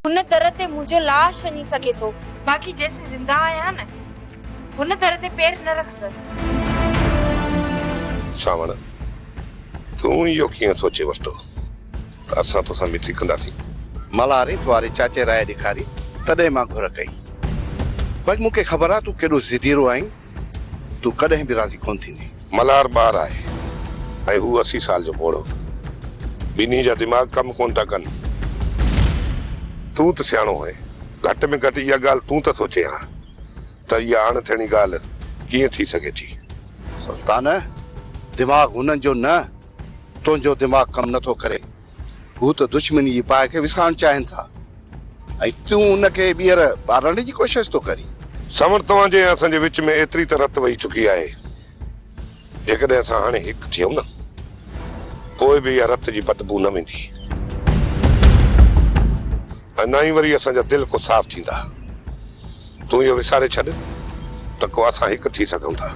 هن در تي منهنجو لاش وڃي سگهي ٿو، باقي جيسين زنده آهيان نه، هن در تي پير نه رکندس. ساوڻ، تون اهو ڪيئن سوچي ورتو ته اسان توسان مٽي ڪنداسين؟ ملهاري ڪنواري چاچي راء ڏيکاري، تڏهن مان گهر ڪئي. ڀڄ، مون کي خبر آ تون ڪيڏو ضديرو آهين. تون ڪڏهن به راضي ڪونه ٿيندين. ملهار ٻار آهي ۽ هو اسي سال جو پوڙهو. ٻنهي جا دماغ ڪم ڪونه ٿا ڪن. تون ته سياڻو آهين. گهٽ ۾ گهٽ اها ڳالهه تون ته سوچين ها ته اها اڻ ٿيڻي ڳالهه ڪيئن ٿي سگهي ٿي. سلطان، دماغ هنن جو نه، تنهنجو دماغ ڪم نه ٿو ڪري. هو ته دشمني جي باهه کي وسائڻ چاهين ٿا ۽ تون ان کي ٻيهر ٻارڻ جي ڪوشش ٿو ڪرين. سامر، توهان جي ۽ اسان جي وچ ۾ ايتري ته رت وهي چڪي آهي، جيڪڏهن اسان هاڻي هڪ ٿيون نه، پوء به اها رت جي بدبوء نه ويندي ۽ نه ئي وري اسان جا دل ڪو صاف ٿيندا. تون اهو وساري ڇڏ ته ڪو اسان هڪ ٿي سگهون ٿا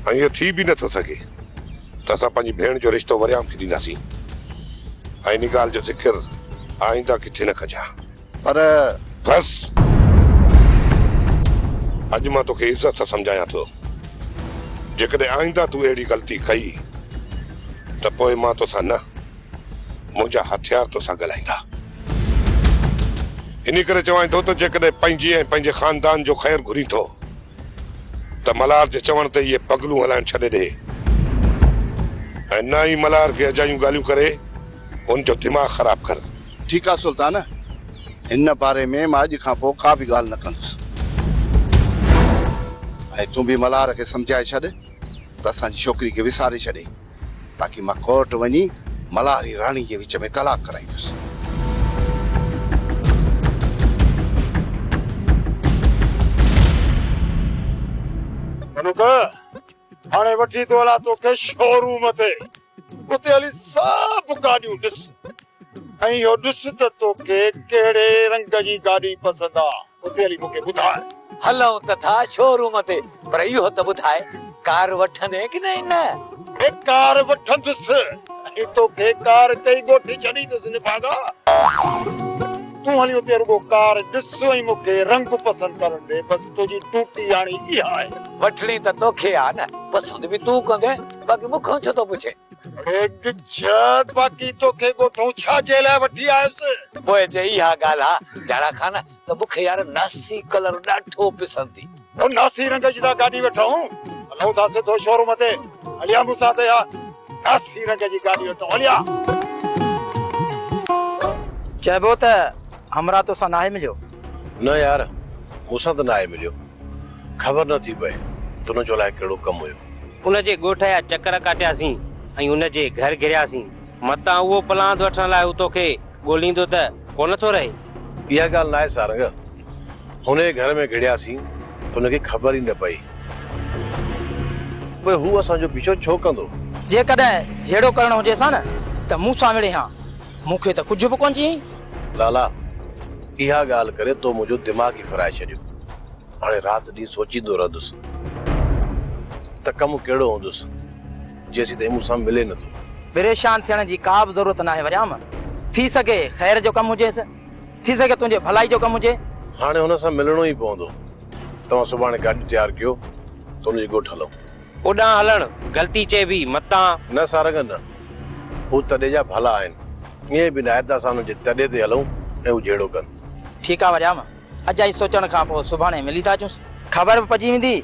۽ اهو ٿي به نه ٿو سگهي. ته اسان پنهنجي ڀيڻ جو رشتو وريام کي ڏينداسين ۽ ان ڳالهه جو ذڪر آئنده ڪٿي نه ڪجان. پر بس! اڄ مان توکي عزت سان سمجهايان ٿو، جيڪڏهن آئنده تون اهڙي غلطي ڪئي ته پوء مان توسان نه، منهنجا هٿيار توسان ڳالهائيندا. انهي ڪري چوانء ٿو ته جيڪڏهن پنهنجي ۽ پنهنجي خاندان جو خير گهرين ٿو، ته ملهار جي چوڻ تي هيء پڳلون هلائڻ ڇڏي ڏئي ۽ نه ئي ملهار کي اجايون ڳالهيون ڪري هن جو دماغ خراب ڪن. ٺيڪ آهي سلطان، هن باري ۾ مان اڄ کانپوء ڪا به ڳالهه نه ڪندس ۽ تون به ملهار کي سمجهائي ڇڏ ته اسان جي ڇوڪري کي وساري ڇڏي. باقي مان ڪورٽ وڃي ملهاري راڻي جي وچ ۾ طلاق ڪرائيندس. ڪنڪ! هاڻي وٺي ٿو هلان توکي شو روم تي. اتي هلي سڀ گاڏيون ڏس. ۽ اهو ڏس ته توکي ڪهڙي رنگ جي گاڏي پسند آ. اتي هلي مون کي ٻڌاء. هلون ته ٿا شو روم تي پر اهو ته ٻڌاء ڪار وٺندين ڪي نه نه؟ اي ڪار وٺندس ۽ توکي ڪار تي ئي ڳوٺي ڇڏيندس نڀاڳا. تون هلي اتي رڳو ڪار ڏس ۽ مون کي رنگ پسند ڪرڻ ڏي بس تنهنجي ڊوٽي هاڻي اها آهي. وٺڻي ته توکي آ نه پسند به تون ڪندين باقي مون کان ڇو ٿو پڇين. هيڪ جهڙ باقي توکي ڳوٺئون ڇا جي لاء وٺي آيس؟ پوء جي اها ڳالهه آ جهڙا خان ته مون کي يار ناسي ڪلر ڏاڍو پسند ٿي. هو ناسي رنگ جي ٿا گاڏي وٺئون هلئون ٿا سڌو شوروم تي هليا مون ساٿ اها ناسي رنگ جي گاڏي وٺئون هليا. چئبو ته همراهه توسان ناهي مليو؟ نه يار مون سان ته ناهي مليو. خبر نه ٿي پئي ته ان جو الائي ڪهڙو ڪم هيو. ان جي ڳوٺ جا چڪر ڪاٽياسين ۽ ان جي گهر گهرياسين. متان اهو پلاند وٺڻ لاء هو توکي ڳوليندو ته ڪو نه ٿو رهي. اها ڳالهه ناهي سارنگ. هن جي گهر ۾ گهڙياسين ته هن کي خبر ئي نه پئي. پوء هو اسان جو پيڇو ڇو ڪندو؟ جيڪڏهن جهيڙو ڪرڻو هجيس ها نه ته مون سان وڙهين ها. مون کي ته ڪجهه به ڪونه چيائين. لالا، اها ڳالهه ڪري تو منهنجو دماغ ئي ڦرائي ڇڏيو. هاڻي رات ڏينهن سوچيندو رهندس ته ڪم ڪهڙو هوندس جيسين تائين مون سان ملي نٿو. پريشان ٿيڻ جي ڪا به ضرورت ناهي وريام. ٿي سگهي خير جو ڪم هجيس. ٿي سگهي تنهنجي ڀلائي جو ڪم هجي. هاڻي هن سان ملڻو ئي پوندو. توهان سڀاڻي گاڏي تيار ڪيو ته هن جي ڳوٺ هلون. اوڏانهن هلڻ غلطي چئبي، متان. نه سارنگن، هو تڏي جا ڀلا آهن. ائين به ناهي ته اسان انهن جي تڏي تي هلون ۽ هو جهيڙو ڪن. ٺيڪ آ وريام، اڄ آئي سوچڻ کان پوء سڀاڻي ملي ٿا اچونس. خبر به پئجي ويندي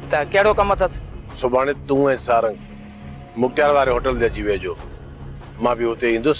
ته ڪهڙو ڪم اٿس. سڀاڻي تون ۽ سارنگ مختيار واري هوٽل تي اچي ويهجو. مان به اتي ئي ايندس.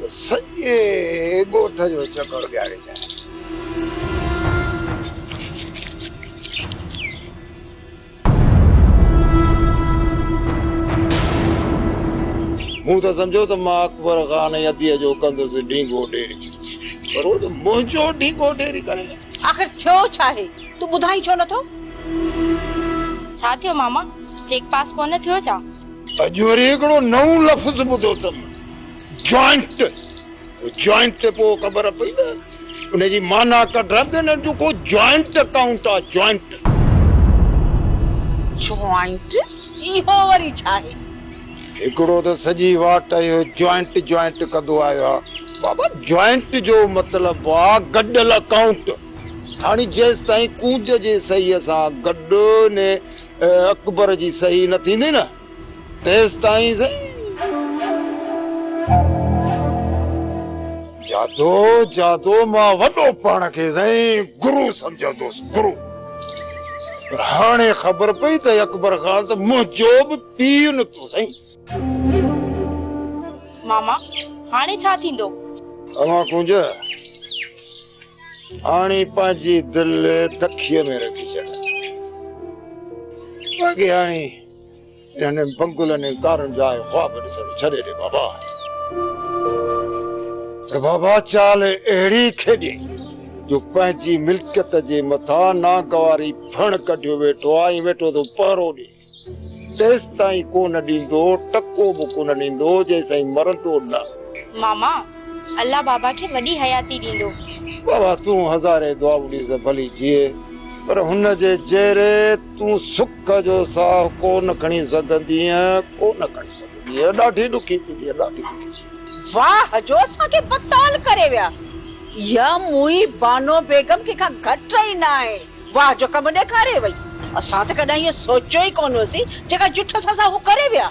ته سڄي ڳوٺ جو چڪر ڏياريندين. مون ته سمجهيو ته مان اڪبر خان يديء جو ڪندس ڍينگو ڍيري، پر هو ته منهنجو ڍينگو ڍيري ڪري ويو. آخر ٿيو ڇا آهي؟ تون ٻڌائين ڇو نه ٿو؟ ڇا ٿيو ماما؟ چيڪ پاس ڪونه ٿيو ڇا؟ اڄ وري هڪڙو نئون لفظ ٻڌو اٿم. جوائنٽ جوائنٽ تي پوء خبر پئي ته ان جي معنيٰ ڪڍڻ تي نه جو ڪو جوائنٽ اڪائونٽ آ جوائنٽ. جوائنٽ اهو وري ڇا آهي؟ هڪڙو ته سڄي واٽ اهو جوائنٽ جوائنٽ ڪندو آيو آ بابا جوائنٽ جو مطلب آ گڏل اڪائونٽ هاڻي جيستائين ڪونج جي صحيح سان گڏ ني اڪبر جي صحيح نه ٿيندي نه تيستائين سائين جادو جادو مان وڏو پاڻ کي سائين گرو سمجهندوس گرو پر هاڻي خبر پئي ته اڪبر خان ته منهنجو به پي نٿو سائين ماما هاڻي ڇا ٿيندو اوهان ڪنج هاڻي پنهنجي دل تکيء ۾ رکجي اڳي هاڻي انهن پنگلن ۽ ڪارن جا آء خواب ڏسڻ ڇڏي ڏي بابا. ته بابا چال اهڙي کيڏيئي جو پنهنجي ملڪيت جي مٿان ناگواري ڦڻ ڪڍيو ويٺو آ ۽ ويٺو ٿو پهرو ڏي. تيستائين ڪونه ڏيندو، ٽڪو به ڪونه ڏيندو جيستائين مرندو نه. ماما الله بابا کي وڏي حياتي ڏيندو. بابا تون هزارين دعائون ڏيس ڀلي جيئي پر هن جي جيري. تون سک جو ساهه ڪو نه کڻي سگهندينء، ڪو نه کڻي سگهندينء، ڏاڍي ڏکي ٿيندينء، ڏاڍي ڏکي ٿيندينء. واهه جو اسان کي بتال ڪري ويا. اها موئي بانو بيگم ڪنهن کان گهٽ رهي نه آهي، واهه جو ڪم ڏيکاري وئي. اسان ته ڪڏهن اهو سوچيو ئي ڪونه هوسين، جيڪا جٺس اسان هو ڪري ويا.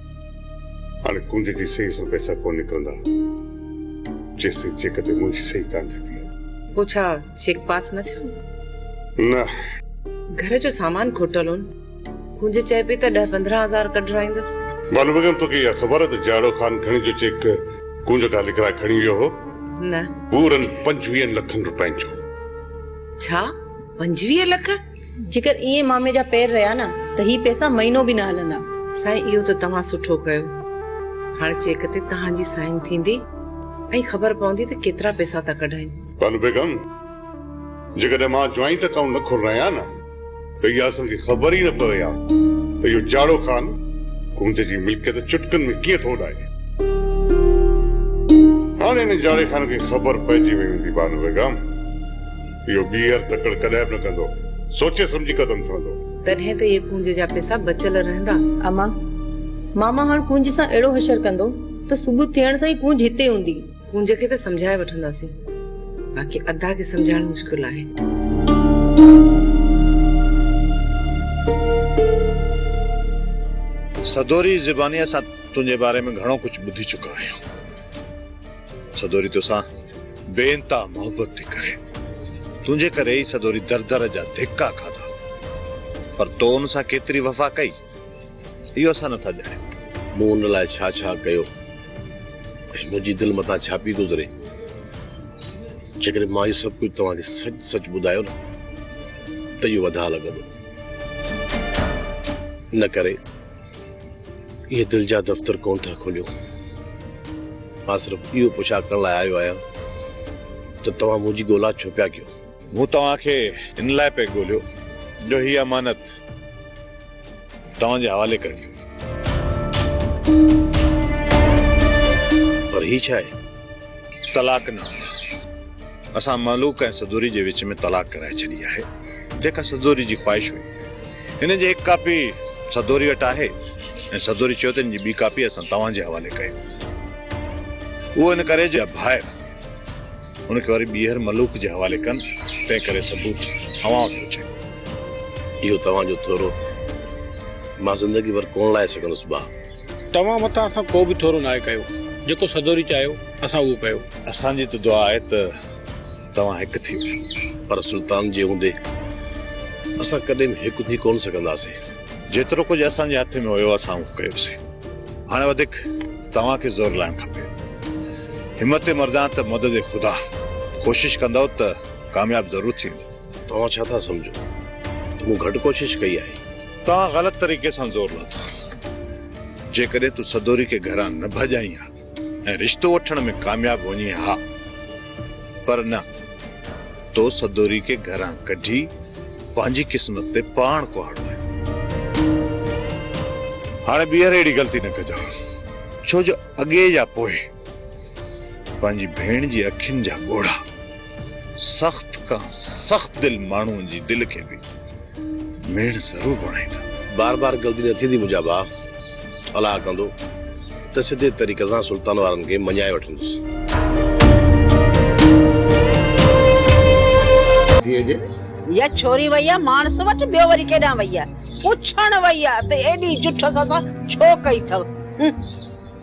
هاڻي ڪنڊ جي سئي سان پئسا ڪونه نڪرندا جيستائين چيڪ تي منهنجي سئي ڪانه ٿيندي. پوء ڇا چيڪ پاس نه ٿيو؟ نه. گهر جو سامان کوٽل هون. ڪنج چئي پئي ته ڏهه پندرهن هزار ڪڍرائيندس. بانو بيگم توکي اها خبر ته جاڙو خان کڻي جو چيڪ ڪنج کان لکرائي کڻي ويو هو؟ نه. پورن پنجويهن لکن روپين جو. ڇا پنجويهه لک؟ جيڪر ائين مامي جا پير رهيا نه ته هي پئسا مهينو به نه هلندا. سائين اهو ته توهان سٺو ڪيو. هاڻ چيڪ تي توهان جي سائين ٿيندي ۽ خبر پوندي ته ڪيترا پئسا ٿا ڪڍايون. بانو بيگم، جيڪڏهن مان جوائنٽ اڪائونٽ نه کولران هان نه ته اها اسان کي خبر ئي نه پوي ها ته اهو جاڙو خان ڪنج جي ملڪيت چٽڪن ۾ ڪيئن ٿو اڏائي. هاڻ ان جاڙي خان کي خبر پئجي وئي هوندي بانو بيگم. اهو ٻيهر تڪڙ ڪڏهن به نه ڪندو. سوچي سمجهي قدم کڻندو. تڏهن ته اهي ڪونج جا پئسا بچيل رهندا. اما، ماما هاڻ ڪونج سان اهڙو هشر ڪندو ته صبح ٿيڻ سان ئي ڪونج هتي هوندي. ڪونج کي ته سمجهائي وٺنداسين، باقي ادا کي سمجهائڻ مشڪل آهي. سدوري زبانيء سان تنهنجي باري ۾ گهڻو ڪجهه ٻڌي چڪا آهيون. سدوري توسان بي انتها محبت ٿي ڪري. تنهنجي ڪري ئي سدوري در در جا ڌڪا کاڌا. پر تو ان سان ڪيتري وفا ڪئي، اهو اسان نٿا ڄاڻيون. مون ان لاء ڇا ڇا ڪيو ۽ منهنجي دل مٿان ڇا پئي گذري. جيڪڏهن مان اهو سڀ ڪجهه توهان کي سچ سچ ٻڌايو نه ته اهو اڌا لڳندو. ان ڪري. اهي دل جا دفتر ڪونه ٿا کوليون. مان صرف اهو پڇا ڪرڻ لاء آيو آهيان ته توهان منهنجي ڳولا ڇو پيا ڪيو؟ مون توهان کي ان لاء پئي ڳوليو جو هيء امانت توهان جي حوالي ڪرڻي هئي. پر هي ڇا آهي؟ طلاقنامو. اسان مهلوڪ ۽ سدوري جي وچ ۾ طلاق ڪرائي ڇڏي آهي، جيڪا سدوري جي خواهش هئي. هن جي هڪ ڪاپي سدوري وٽ آهي ۽ سدوري چيو ته هن جي ٻي ڪاپي اسان توهان جي حوالي ڪيون. اهو ان ڪري جو ڀائر ان کي وري ٻيهر مهلوڪ جي حوالي ڪن، تنهن ڪري ثبوت اوهان وٽ پهچايون. اهو توهان جو ٿورو مان زندگي ڀر ڪونه لاهي سگهندس، ڀاء! توهان مٿان اسان ڪو به ٿورو ناهي ڪيو. جيڪو سدوري چاهيو، اسان اهو ڪيو. اسان جي ته دعا آهي ته توهان هڪ ٿيو. پر سلطان جي هوندي اسان ڪڏهن به هڪ ٿي ڪونه سگهنداسين. جيترو ڪجهه اسان جي هٿ ۾ هيو، اسان اهو ڪيوسين. هاڻي وڌيڪ توهان کي زور لاهڻ کپي. همت مردان ته مدد خدا. ڪوشش ڪندؤ ته ڪامياب ضرور ٿيندؤ. توهان ڇا ٿا سمجهو ته مون گهٽ ڪوشش ڪئي آهي؟ توهان غلط طريقي سان زور لاٿو. جيڪڏهن تون سدوري کي گهران نه ڀڄائين ها ۽ رشتو وٺڻ ۾ ڪامياب وڃين ها پر نه تو سدوري کي گهران ڪڍي پنهنجي قسمت تي پاڻ ڪهاڙو آيو. هاڻي ٻيهر اهڙي غلطي نه ڪجان ڇو جو اڳي يا پوء پنهنجي ڀيڻ جي اکين جا ڳوڙها سخت کان سخت دل ماڻهوء جي دل کي به ميڻ ضرور بڻائيندا. بار بار غلطي نه ٿيندي منهنجا ڀاء. الاهه ڪندو ته سڌي طريقي سان سلطان وارن کي مڃائي وٺندس. اها ڇوري وئي آهي ماڻس وٽ ٻيو وري ڪيڏانهن وئي آهي. پڇڻ وئي آهي ته ايڏي جٺس اسان ڇو ڪئي اٿئو.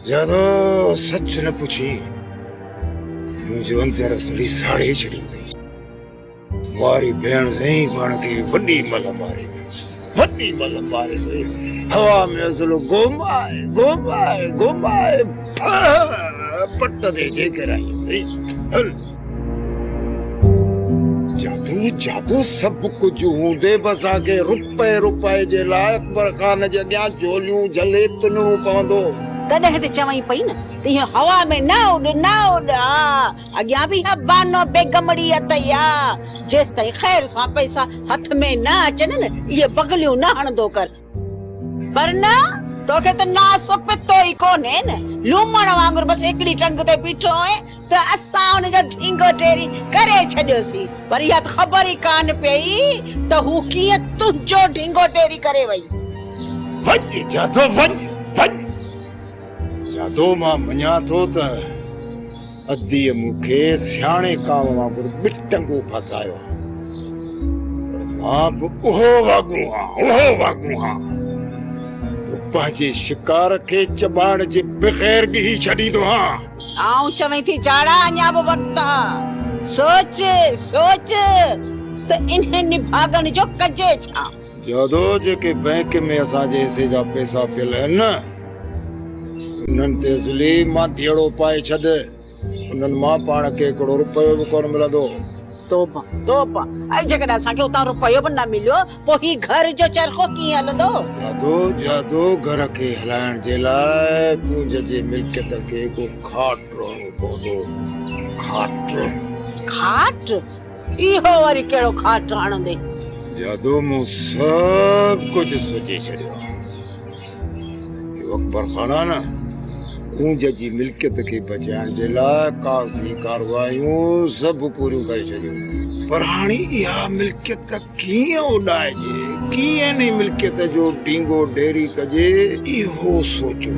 زيادو سچ نه پڇي منهنجو اندر اصلي ساڙي ڇڏيو اٿئي ماري ڀيڻ سائين پاڻ کي وڏي مل ماري وڏي مل ماري وئي هوا ۾ اصلو گومائي گومائي گومائي پٽ تي جيڪر آئي هل جادو جادو سڀ ڪجهه هوندي به اسان کي رپئي رپئي جي لاء اڪبر خان جي اڳيان جهوليون جهلي پنڻو پوندو هو. تڏهن ته چوين پئي نه ته ايئن هوا ۾ نه اڏ نه اڏ آ، اڳيان به اها بانو بيگمڙي اٿئي آ، جيستائين خير سان پئسا هٿ ۾ نه اچن نه اهي بغليون نه هڻندو ڪر. پر نه، توکي ته ناس و پتو ئي ڪونهي نه، لومڙ وانگر بس هڪڙي ٽنگ تي بيٺو آهين ته اسان ان جو ڍينگو ڍيري ڪري ڇڏيوسين، پر اها ته خبر ئي ڪانه پيئي ته هو ڪيئن تنهنجو ڍينگو ڍيري ڪري وئي. وڃ جادو وڃ، وڃ جادو مان مڃان ٿو ته. اديء مون کي سياڻي ڪاوه وانگر ٻٽنگو ڦاسايو ها، پر مان به اهو واڳون هان، اهو واڳون هان، جو پنهنجي شڪار کي چٻاڙ جي بغير ڳهي ڇڏيندو هان. آئون چوين ٿي جاڙا اڃا به وقت آ، سوچ، سوچ ته انهن نڀاڳن جو ڪجي ڇا؟ جادو جيڪي بئنڪ ۾ اسان جي حصي جا پئسا پيل آهن نه انهن تي ضلعي مان ڌيئڙو پائي ڇڏ انهن مان پاڻ کي هڪڙو روپيو به ڪونه ملندو. توبه توبه ۽ جيڪڏهن اسان کي اتان روپيو به نه مليو پوء هي گهر جو چرخو ڪيئن هلندو؟ جادو جادو گهر کي هلائڻ جي لاء ڪونج جي ملڪيت کي هڪڙو کاٽ رهڻو پوندو کاٽ کاٽ؟ اهو وري ڪهڙو کاٽ هڻندي. جادو مون سڀ ڪجهه سوچي ڇڏيو آهي. اهو اڪبر خان آهي نه ڪونج جي ملڪيت کي بچائڻ جي لاء ڪاغذي ڪاروايون سڀ پوريون ڪري ڇڏيون پر هاڻي اها ملڪيت ڪيئن اڏائجي ڪيئن ان ملڪيت جو ڊينگو ڊيري ڪجي اهو سوچو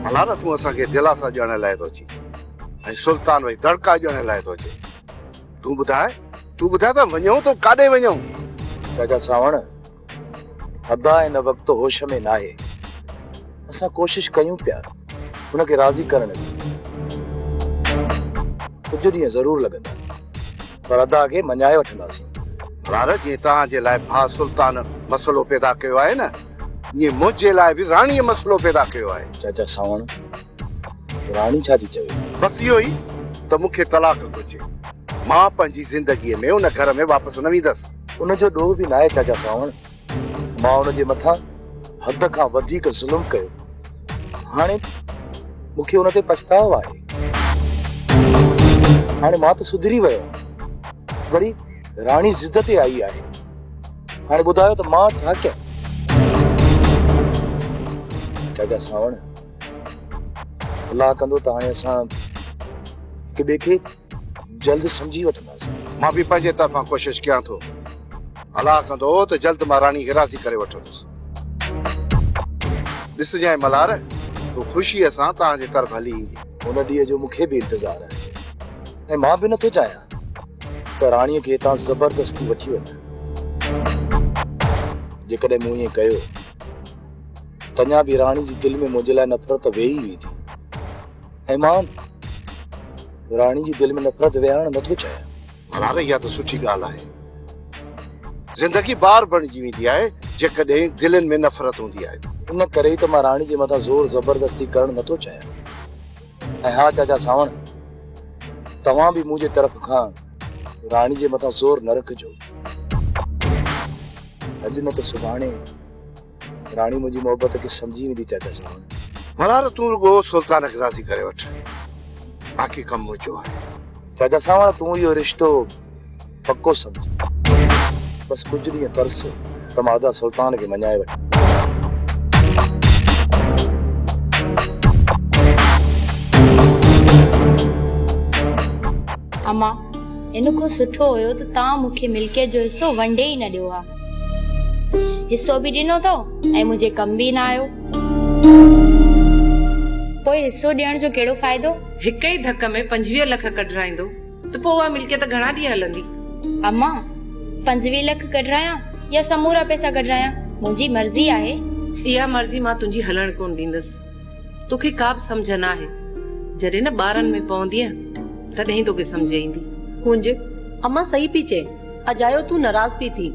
ڀلا ته تون اسان کي دلاسا ڏيڻ لاء ٿو اچين ۽ سلطان وئي دڙڪا ڄڻ لاء ٿو اچي تون ٻڌاء تون ٻڌاء ته وڃون تو ڪاڏي وڃون چاچا ساوڻ ادا ان وقت هوش ۾ ناهي اسان ڪوشش ڪيون پيا ان کي راضي ڪرڻ جي ڪجهه ڏينهن ضرور لڳندا پر ادا کي مڃائي وٺنداسين مرار جي توهان جي لاء ڀا سلطان مسئلو پيدا ڪيو آهي نه ائين منهنجي لاء به راڻي مسئلو پيدا ڪيو آهي چاچا ساوڻ راڻي ڇا ٿي چوي؟ بس اهو ئي ته مون کي طلاق گهرجي. مان پنهنجي زندگيء ۾ ان گهر ۾ واپس نه ويندس. ان جو ڏوهه به ناهي چاچا سانوڻ. مان ان جي مٿان حد کان وڌيڪ ظلم ڪيو. هاڻي مون کي ان تي پڇتاء آهي. هاڻي مان ته سڌري ويو آهيان. وري راڻي ضد تي آئي آهي. هاڻي ٻڌايو ته مان ڇا ڪيان؟ چاچا سانوڻ! الله ڪندو ته هاڻي اسان هڪ ٻئي کي جلد سمجهي وٺنداسين. مان به پنهنجي طرفان ڪوشش ڪيان ٿو. الله ڪندو ته جلد مان راڻي کي راضي ڪري وٺندس. ڏسجانء ملهار، هوء خوشيء سان توهان جي طرف هلي ايندي. ان ڏينهن جو مون کي به انتظار آهي ۽ مان به نٿو چاهيان ته راڻيء کي هتان زبردستي وٺي وڃن. جيڪڏهن مون ائين ڪيو تڃان به راڻي جي دل ۾ منهنجي لاء نفرت ويهي ئي ويندي ۽ مان راڻي جي دل ۾ نفرت ويهارڻ نٿو چاهيان ڀلا رهي اها ته سٺي ڳالهه آهي زندگي بار بڻجي ويندي آهي جيڪڏهن دلين ۾ نفرت هوندي آهي ته ان ڪري ئي ته مان راڻي جي مٿان زور زبردستي ڪرڻ نٿو چاهيان ۽ ها چاچا ساوڻ توهان به منهنجي طرف کان راڻي جي مٿان زور نه رکجو اڄ نه ته سڀاڻي راڻي منهنجي محبت کي سمجهي ويندي چيتا چوان. ملهار تون رڳو سلطان کي راضي ڪري وٺ باقي ڪم منهنجو آهي. چيتا ساوڻ تون اهو رشتو پڪو سمجهه بس ڪجهه ڏينهن ترس ته مان ادا سلطان کي مڃائي وٺان. امان ان کان سٺو هيو ته توهان مون کي ملڪيت جو حصو ونڊي ئي نه ڏيو ها. حصو به ڏنو اٿئو ۽ منهنجي ڪم به نه آيو. پوء حصو ڏيڻ جو ڪهڙو فائدو؟ هڪ ئي ڌڪ ۾ پنجويهه لک ڪڍرائيندو ته پوء اها ملڪيت گهڻا ڏينهن هلندي؟ اما، پنجويهه لک ڪڍرايان يا سمورا پئسا ڪڍرايان، منهنجي مرضي آهي. اها مرضي مان تنهنجي هلڻ ڪونه ڏيندس. توکي ڪابه سمجهه ناهي. جڏهن نه ٻارن ۾ پوندينء تڏهن ئي توکي سمجهه ايندي. ڪنج، امان صحيح پي چئين. اجايو تون ناراض پي ٿين.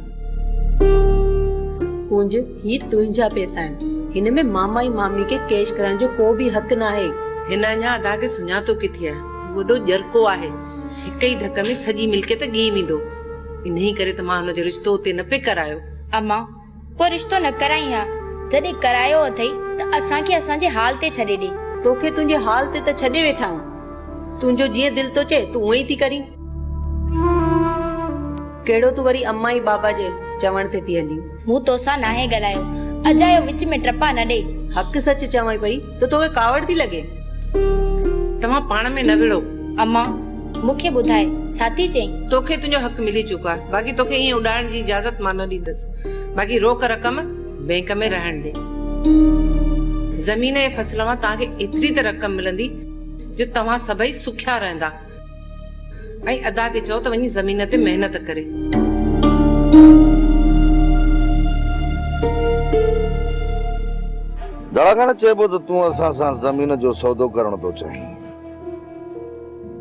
ڪنج، هي تنهنجا پئسا آهن. هن ۾ ماما ۽ مامي کي ڪيش ڪرائڻ جو ڪو به حق ناهي. هن اڃا ادا کي سڃاتو ڪٿي آهي. هو وڏو ڄرڪو آهي. هڪ ئي ڌڪ ۾ سڄي ملڪيت ڳهي ويندو. انهيء ڪري ته مان هن جو رشتو اتي نه پئي ڪرايو. امان، ڪو رشتو نه ڪرائين ها، جڏهن ڪرايو اٿئي ته اسان کي اسان جي حال تي ڇڏي ڏي. توکي تنهنجي حال تي ته ڇڏي ويٺا آهيون، تنهنجو جيئن دل ٿو چئي تون اونئين ٿي ڪرين. ڪهڙو تون وري امان ۽ بابا جي چوڻ تي ٿي هلين. مون توسان ناهي ڳالهايو، اجايو وچ ۾ ٽپا نه ڏي. حق سچ چوانء پئي. ته توکي ڪاوڙ ٿي لڳي. توهان پاڻ ۾ نه وڙهو. اما مون کي ٻڌاء ڇا ٿي چئين؟ توکي تنهنجو حق ملي چڪو آهي. باقي توکي ائين اڏائڻ جي اجازت مان نه ڏيندس. باقي روڪ رقم بئنڪ ۾ رهڻ ڏي. زمين ۽ فصل مان توهان کي ايتري ته رقم ملندي جو توهان سڀئي سکيا رهندا. ۽ ادا کي چئو ته وڃي زمين تي محنت ڪري. دڙا کان نه چئبو ته تون اسان سان زمين جو سودو ڪرڻ ٿو چاهين.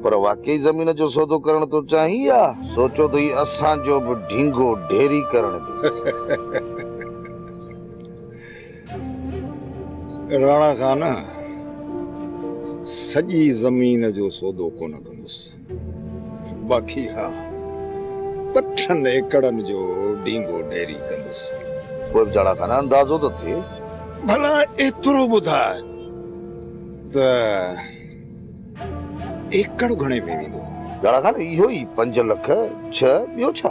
پر واقعي زمين جو سودو ڪرڻ ٿو چاهين يا سوچو ته هي اسان جو به ڍينگو ڍيري ڪرڻ جو. راڻا خان سڄي زمين جو سودو ڪونه ڪندس باقي ها پٺن ايڪڙن جو ڊينگو ڊيري ڪندس. پوء به راڻا خان اندازو ته ٿئي. ڀلا ايترو ٻڌاء ته ايڪڙ گهڻي ۾ ويندو؟ راڻا خان اهو ئي پنج لک ڇهه ٻيو ڇا؟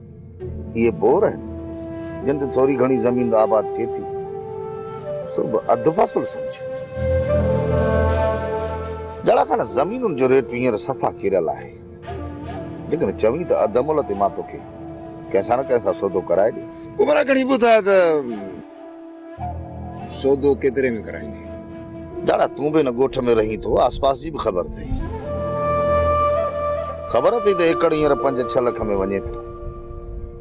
اهي بور آهن، جن تي ٿوري گهڻي زمين آباد ٿئي ٿي، سو به اڌ فصل سمجهه. جهڙا کان زمينن جو ريٽ هينئر صفا ڪريل آهي، جيڪڏهن چوين ته اڌ ملهه تي مان توکي ڪنهن سان نه ڪنهن سان سودو ڪرائي ڏي. عمرا گهڻي ٻڌايو ته. سودو ڪيتري ۾ ڪرائيندين؟ لاڙا تون به ان ڳوٺ ۾ رهين ٿو، آس پاس جي به خبر اٿئي. خبر اٿئي ته ايڪڙ هينئر پنج ڇهه لک ۾ وڃي ٿو.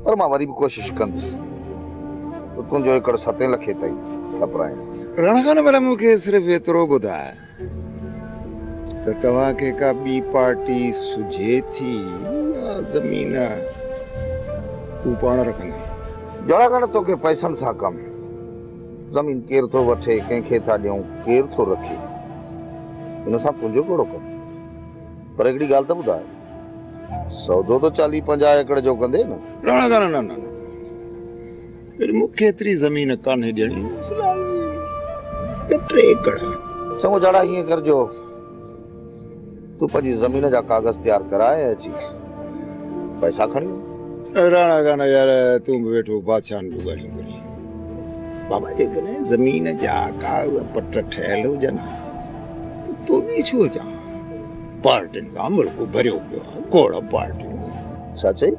پر مان وري به ڪوشش ڪندس ته تنهنجو ايڪڙ ستين لکين تائين ٺپرايان. رڻ خان ڀلا مون کي صرف ايترو ٻڌاء. ته توهان کي ڪا ٻي پارٽي سجهي ٿي يا زمين تون پاڻ رکندين؟ جهڙا ڳڻ توکي پئسن سان ڪم، زمين ڪير ٿو وٺي، ڪنهن کي ٿا ڏيون، ڪير ٿو رکي، ان سان تنهنجو ڪهڙو ڪم؟ پر هڪڙي ڳالهه ته ٻڌاء، سودو ته چاليهه پنجاهه ايڪڙ جو ڪندين نه؟ راڻا ڳانا نه نه نه، پر مون کي ايتري زمين ڪانهي ڏيڻي. في الحال ٻه ٽي ايڪڙ. چڱو جاڙا ائين ڪر جو تون پنهنجي زمين جا ڪاغذ تيار ڪراء ۽ اچي پئسا کڻي وڃ. راڻا گانا يار تون به ويٺو بادشاهن جون ڳالهيون ڪرين. بابا جيڪڏهن زمين جا ڪاغذ پٽ ٺهيل هجن ها ته توني ڇو اچان ها. پارٽين سان ملڪ ڀريو پيو آهي کوڙ پارٽيون. ڇا چئي؟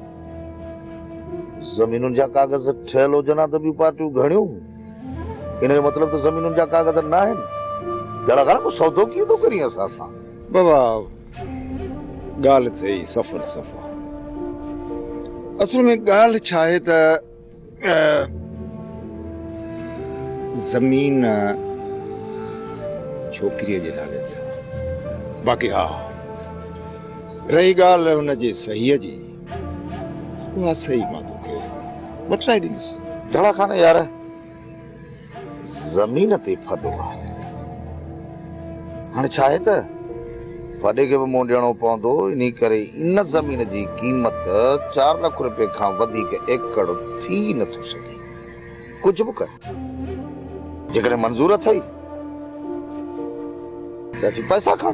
زمينن جا ڪاغذ ٺهيل هجن ها ته ٻيون پارٽيون گهڻيون ان جو مطلب ته زمينن جا ڪاغذ نه آهن جهڙا گهر ڪو سودو ڪيئن ٿو ڪرين اسان سان بابا ڳالهه ٿئي سفل سفا اصل ۾ ڳالهه ڇا آهي ته زمين ڇوڪريء جي نالي تي آهي. باقي ها رهي ڳالهه هن جي صحيح جي اها صحيح مان توکي وٺرائي ڏيندس. جھڙا خان يار! زمين تي ڦڏو آهي. هاڻي ڇا آهي ته ڦڏي کي به منهن ڏيڻو پوندو، انهي ڪري ان زمين جي قيمت چار لک رپئي کان وڌيڪ ايڪڙ ٿي نه ٿو سگهي. ڪجهه به ڪر. جيڪڏهن منظور اٿئي ته اچي پئسا کڻ.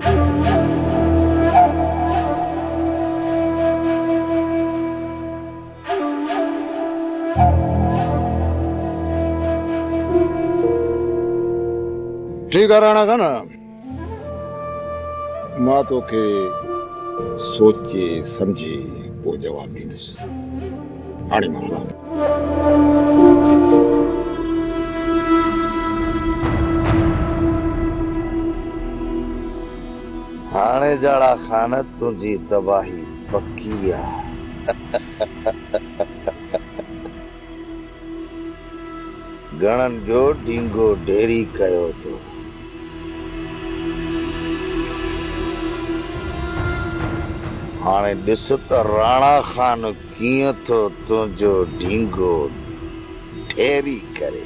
ٺيڪ آ راڻا خان مان توکي سوچي سمجهي پوء جواب ڏيندس هاڻي مان هلان هاڻي جاڙا خان تنهنجي تباهي پڪي آ گهڻن جو ڊينگو ڍيري ڪيو تو. هاڻي ڏس ته راڻا خان ڪيئن ٿو تنهنجو ڍينگو ڍيري ڪري.